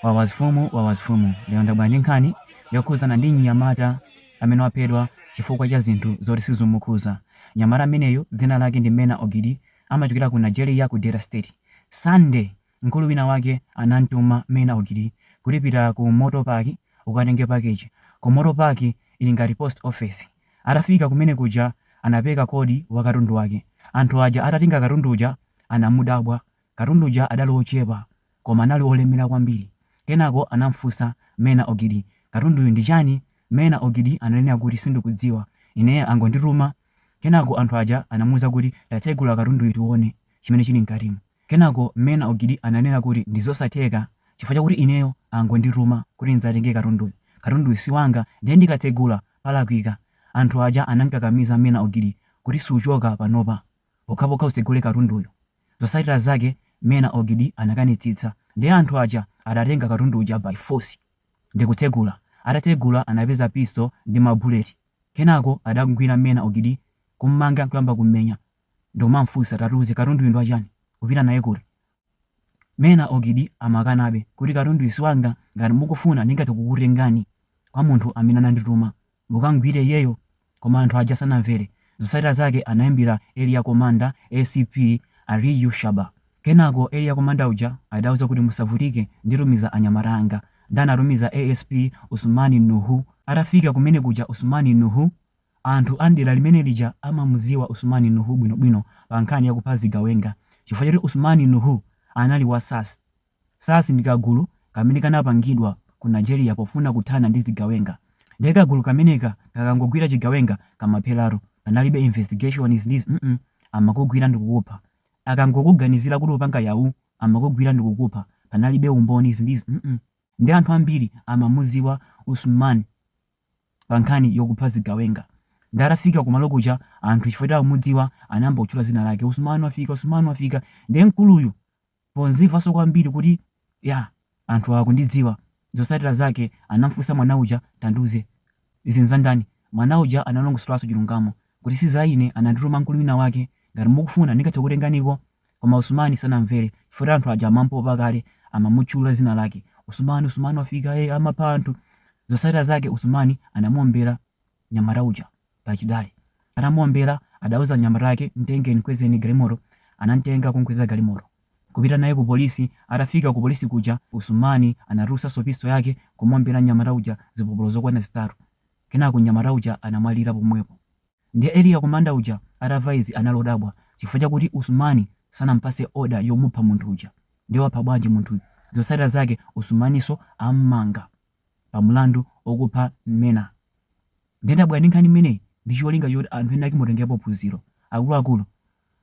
Wawazfumu Wawazfumu lero ndabwera ndi nkhani yokhuzana ndi mnyamata amene waphedwa chifukwa cha zinthu zoti sizumukhuza. Mnyamata ameneyu dzina lake ndi Mena Ogidi amachokera ku Nigeria ku Delta state. Sunday mkulu wina wake anamtuma Mena Ogidi kuti pita ku motor park ukatenge package. Ku motor park ili ngati post office. Atafika kumene kuja anapeka kodi wa katundu wake. Anthu aja atatenga katundu uja anamudabwa Katundu uja adali wochepa koma anali wolemera kwambiri. Kenako anam'funsa Mena Ogidi, Katunduyu ndi chani? Mena Ogidi ananena kuti sindikudziwa, ine angondituma. Kenako anthu aja anamuuza kuti tatsegula katunduyu tione chimene chili mkatimu. Kenako Mena Ogidi ananena kuti ndi zosatheka chifukwa chakuti ineyo angondituma kuti ndidzatenge katunduyu. Katunduyu si wanga ndiye ndikatsegula palakwika. Anthu aja anam'kakamiza Mena Ogidi kuti suchoka panopa. pokhapokha usegule katunduyu. Zosatira zake Mena Ogidi anakanitsitsa ndiye anthu aja adatenga katundu uja by force ndikutsegula. Atatsegula anapeza pistol ndi ma bullet. Kenako adamgwira Mena Ogidi kummanga nkuyamba kummenya nkumamfunsa tatiuze katunduyu ndi wachani? Upita naye kuti? Mena Ogidi amakanabe kuti, Katunduyu si wanga. Ngati mukufuna, ndingathe kukutengani kwa munthu amene anandituma, mukam'gwire iyeyo. Koma anthu aja sanamvere. Zotsatira zake anaimbira Area Commander, ACP, Aliyu Shaba. Kenako Area Commander uja adauza kuti, Musavutike, nditumiza anyamata anga. Ndiye anatumiza ASP Usumani Nuhu. Atafika kumene kuja Usumani Nuhu. Anthu a m'dera limene lija amamudziwa Usumani Nuhu bwinobwino pa nkhani ya kupha zigawenga chifukwa choti Usumani Nuhu anali wa SARS. SARS ndi kagulu kamene kanapangidwa ku Nigeria pofuna kuthana ndi zigawenga. Ndiye kagulu kameneka kakangogwira chigawenga kamapheratu. Panalibe investigation izi ndi izi mm amakugwira ndikukupha. Akangokuganizira kuti upanga Yahoo amakugwira ndikukupha. Panalibe umboni izi ndi izi mm. Ndiye anthu ambiri amamudziwa Usumani. pa nkhani yokupha zigawenga. Nde atafika kumalo kuja anthu chifukwa choti akumudziwa anayamba kutchula dzina lake Usman wafika Usman wafika nde mkuluyu podzimvanso kwambiri kuti ya anthu awa akundidziwa zotsatira zake anamfunsa mwana uja tandiuze izi nzandani mwana uja analongosolanso chilungamo kuti si za ine anandituma mkulu wina wake ngati mukufuna ndingathe kukutenganiko Koma Usumani sanamvere chifukwa choti anthu aja amampopa kale amamutchula zina lake Usumani Usumani wafika ee amapha anthu zotsatira zake Usumani anamuombera mnyamata uja pa chidale atamuombera adauza anyamata ake mtengeni mkwezeni galimoto anamtenga kumkweza galimoto kupita naye ku polisi atafika ku polisi kuja Usumani anatulusanso pistol yake kumuombera mnyamata uja zipopolo zokwana zitatu kenako mnyamata uja anamwalira pomwepo. Ndiye area commander uja atamva izi anadabwa chifukwa chakuti Usmani sanampatse order yomupha munthu uja ndiye wapha bwanji munthuyu? Zotsatira zake Usmaninso ammanga pa mlandu okupha Meena. Ndiye ndabwera ndi nkhani imeneyi ndi cholinga choti anthu ena ake mutengerepo phunziro. Akuluakulu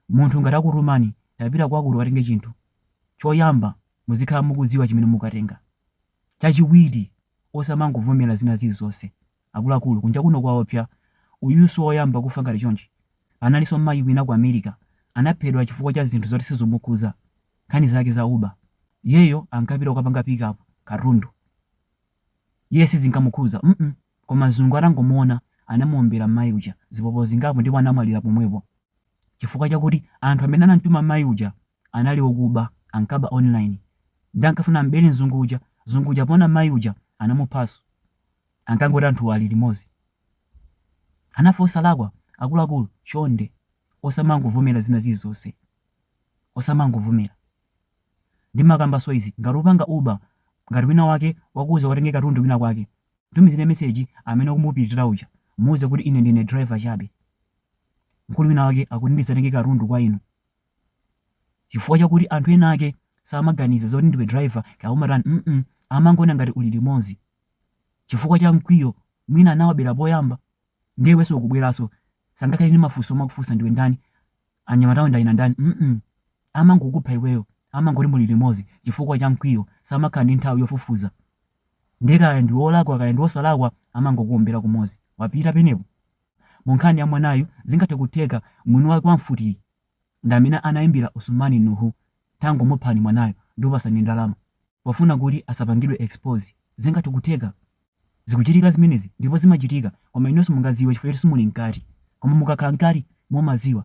munthu ngati akutumani tapita kwakuti ukatenge chinthu, choyamba muzikhala mukudziwa chimene mukukatenga. Chachiwiri osamangovomera zina zilizonse. Akuluakulu, kunja kuno kwaopsa. Uyuyu si woyamba kufa ngati chonchi. Panalinso mayi wina ku America anaphedwa chifukwa cha zinthu zoti sizomukhudza, nkhani zake za uber. Iyeyo ankapita kukapanga pick up katundu. Iye sizinkamukhudza mm koma mzungu atangomuona anamuombera mayi uja zipolopolo zingapo ndipo anamwalira pomwepo chifukwa chakuti anthu amene anamtuma mayi uja anali okuba ankaba online nde ankafuna am'bele mzungu uja, mzungu uja poona mai uja anamuphaso ankangoti anthuwa ali limozi anafe osalakwa akuluakulu chonde osamangovomela zina zilizose osamangovomela ndimakambaso izi ngati ukupanga uber ngati wina wake wakuuza ukatenge katundu kwina kwake mtumizile message amene ukumupitila uja muuze kuti ine ndine driver chabe mkulu wina wake akuti ndizatenge katundu kwa inu chifukwa chakuti anthu ena ake samaganiza zoti ndiwe driver kaya umatani mm amangoona ngati uli limodzi chifukwa cha mkwiyo mwina anawabera poyamba ndiye iwenso ukubweranso sangakhale ndi mafunso omakufunsa ndiwe ndani anyamatawo ndi ena ndani mm amangokupha iweyo amangoti muli limodzi chifukwa cha mkwiyo samakhala ndi nthawi yofufuza ndiye kaya ndi wolakwa kaya ndi wosalakwa amangokuombera kumodzi wapita penepo mu nkhani ya mwanayu zingathe kutheka mwini wake wa mfutiyi ndamene anaimbila Usumani Nuhu tangomuphani mwanayo ndikupasani ndalama pofuna kuti asapangidwe expose zingathe kutheka? Zikuchitika zimenezi ndipo zimachitika koma inuyo simungadziwe chifukwa choti simuli mkati koma mukakhala mkati mumadziwa.